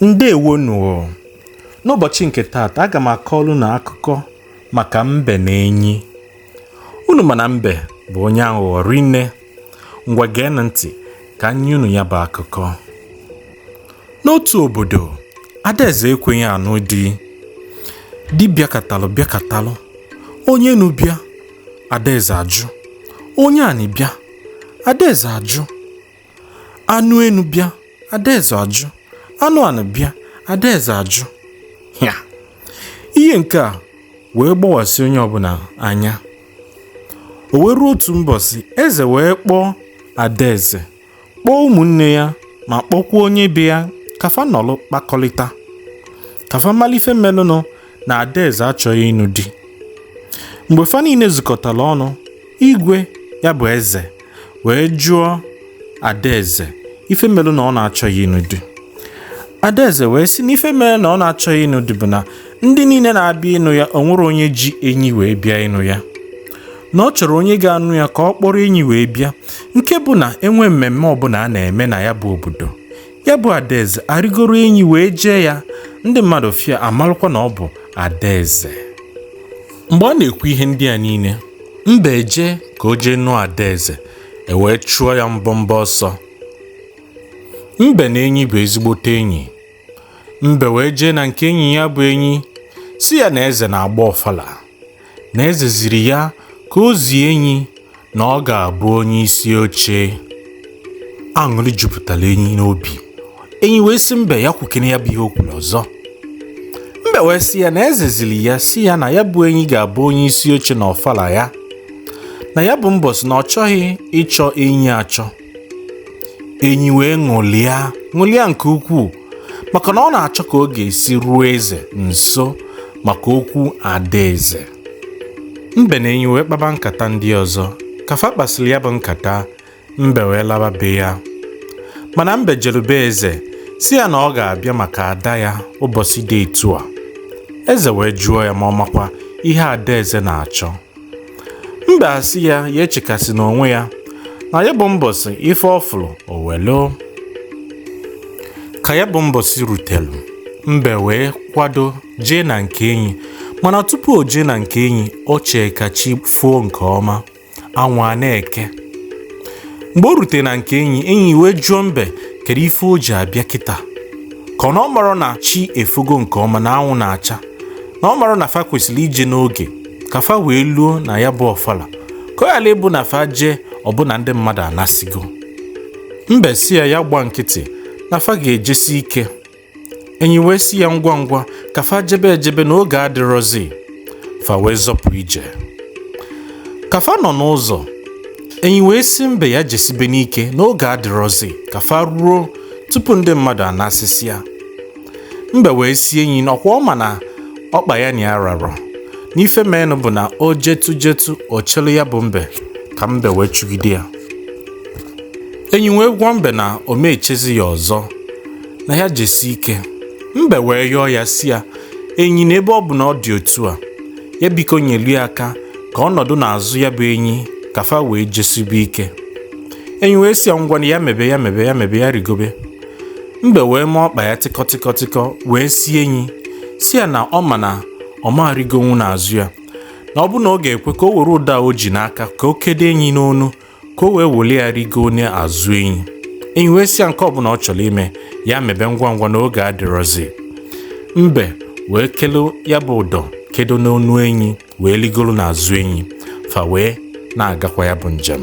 ndewo nụ n'ụbọchị nke taata aga m akọlụ unu akụkọ maka mbe na enyi unu ma na mbe bụ onye aghụghọ rinne ngwa geenụ ntị ka m nye unu ya bụ akụkọ n'otu obodo adaeze ekweghị anụ di di bịakatalụ bịakatalụ onye enu bịa adaeze ajụ onye anị bịa adaeze ajụ anụ enu bịa adaeze ajụ anụ anị bịa adaeze ajụ ya ihe nke a wee gbawasị onye ọbụla anya o wee ruo otu mbọsị eze wee kpọọ adaeze kpọọ ụmụnne ya ma kpọkwuo onye be ya ka fa nọlụ kpakọlịta ka fa malụ ife melụnụ na adaeze achọghị ịnụ di mgbe fa niile zukọtara ọnụ igwe ya bụ eze wee jụọ adaeze ife mere na ọ na-achọghị ịnụ di adaeze wee sị na ife mere na ọ na-achọghị ịnụ di bụ na ndị niile na-abịa ịnụ ya o nwerọ onye ji enyi wee bịa ịnụ ya na ọ chọrọ onye ga-anụ ya ka ọ kpọrọ enyi wee bịa nke bụ na e nwee mmemme ọbụla a na-eme na ya bụ obodo ya bụ adaeze arịgoro enyi wee jee ya ndị mmadụ fụ ya amalụkwa na ọ bụ adaeze mgbe ọ na-ekwu ihe ndị a niile mbe ejee ka o jee nụọ adaeze e wee chụọ ya mbọ mbọ ọsọ mbe na enyi bụ ezigbote enyi mbe wee jee na nke enyi ya bụ enyi sị ya na eze na-agba ọfala na eze ziri ya ka o zie enyi na ọ ga-abụ onye isi oche aṅụrị jupụtara enyi n'obi enyi wee sị mbe ya kwukene ya bụ ihe o kwuru ọzọ mbe wee sị ya na eze ziri ya sị ya na ya bụ enyi ga-abụ onye isi oche na ọfala ya na ya bụ mbọsị na ọ chọghị ịchọ enyi achọ enyi wee ṅụlịa ṅụlịa nke ukwuu maka na ọ na-achọ ka ọ ga-esi ruo eze nso maka okwu adaeze mbe na enyi wee kpaba nkata ndị ọzọ ka fa kpasịrị ya bụ nkata mbe wee laba be ya mana mbe jelu be eze sị ya na ọ ga-abịa maka ada ya ụbọchị dị etu a eze wee jụọ ya ma ọ makwa ihe adaeze na-achọ mbe asị ya ya echekasịna onwe ya na ya bụ mbọsị ife ọ fụlụ o welu ka ya bụ mbọsị rutelu mbe wee kwado jee na nke enyi mana tupu o jee na nke enyi o chee ka chi fuo nke ọma anwụ a na-eke mgbe o rutere na nke enyi enyi wee jụọ mbe kedu ife o ji abịa kịta ka na ọ marọ na chi efugo nke ọma na anwụ na-acha na ọ marọ na fa kwesịrị ije n'oge ka fa wee luo na ya bụ ọfala ka ọ ghara ịbụ na fa jee ọ bụ na ndị mmadụ anasigo mbe sị ya ya gba nkịtị na fa ga-ejesi ike enyi wee sị ya ngwa ngwa ka fa jebe ejebe na oge adịrọzi fa wee zọpụ ije ka fa nọ n'ụzọ enyi wee sị mbe ya jesibe n'ike na oge adịrọzi ka fa ruo tupu ndị mmadụ anasịsịa mbe wee sị enyi na ọkwa ọ ma na ọkpa ya na ya rarọ na ife menụ bụ na o jetụ jetụ o chelu ya bụ mbe ka mbe wee chụgide ya enyi wee gwa mbe na ọ ma echezi ya ọzọ na ya jesi ike mbe wee yọọ ya sị ya enyi na ebe ọ bụ na ọ dị otu a ya biko nyelu ya aka ka ọ nọdụ n'azụ ya bụ enyi ka fa wee jesibe ike enyi wee sị ya ngwa na ya mebe ya mebe ya mebe ya rigobe mbe wee mee ọkpa ya tịkọtịkọtịkọ wee sị enyi sị ya na ọ ma na ọ ma arigonwu n'azụ ya na ọ bụ na ọ ga-ekwe ka o were ụdọ o ji n'aka ka o kedo enyi n'onu ka o wee welu ya rigoo n'azụ enyi enyi wee sị ya nke ọbụla ọ chọrọ ime ya mebe ngwa ngwa na oge adịrọzi mbe wee kelu ya bụ ụdọ kedo n'onu enyi wee rigoro n'azụ enyi fa wee na-agakwa ya bụ njem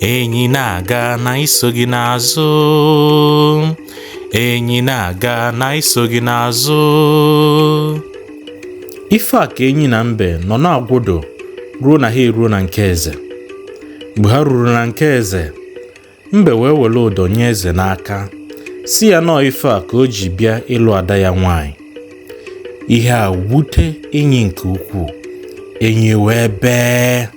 enyi na-aga na anyị so gị n'azụ enyi na-aga na anyị so gị n'azụ ife a ka enyi na mbe nọ na-agụdo ruo na ha eruo na nke eze mgbe ha ruru na nke eze mbe wee were ụdọ nye eze n'aka sị ya na ọọ ife a ka o ji bịa ịlụ ada ya nwanyị ihe a wute enyi nke ukwuu enyi wee bee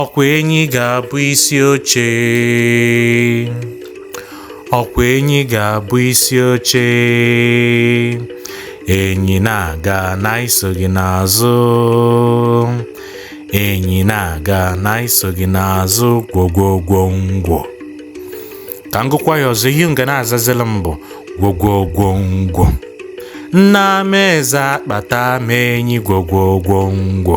ọkwa enyi ga-abụ isi oche ọkwa enyi ga-abụ isi oche enyi na-aga na anyị so gị n'azụ enyi na-aga na anyị so gị n'azụ gwogwogwo ngwo ka m gụkwa ya ọzọ ihe unu ga na-azazila m bụ gwogwogwo ngwo nna m eze akpata m enyi gwogwogwo ngwo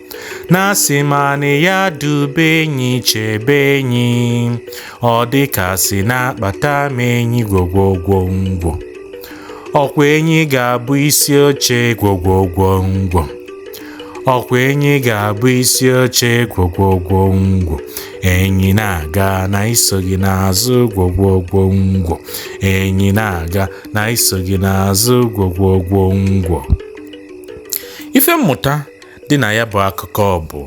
na asị m ana ya dube enyi chebe enyi ọ dịka a sị na akpata m enyi gwogwogwo ngwo ọkwa enyi ga-abụ isi oche gwogwogwo ngwo ọkwa enyi ga-abụ isi oche gwogwogwo ngwo enyi na-aga na anyị so gị n'azụ gwogwogwo ngwo enyi na-aga na anyị so gị n'azụ gwogwogwo ngwo ife mmụta dị na ya bụ akụkọ bụ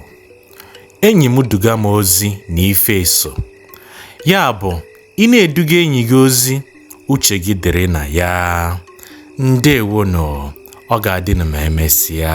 enyi m duga m ozi na ife eso ya bụ ị na-eduga enyi gị ozi uche gị dịrị na ya ndewo nụ ọ ga-adịnụ ma emesịa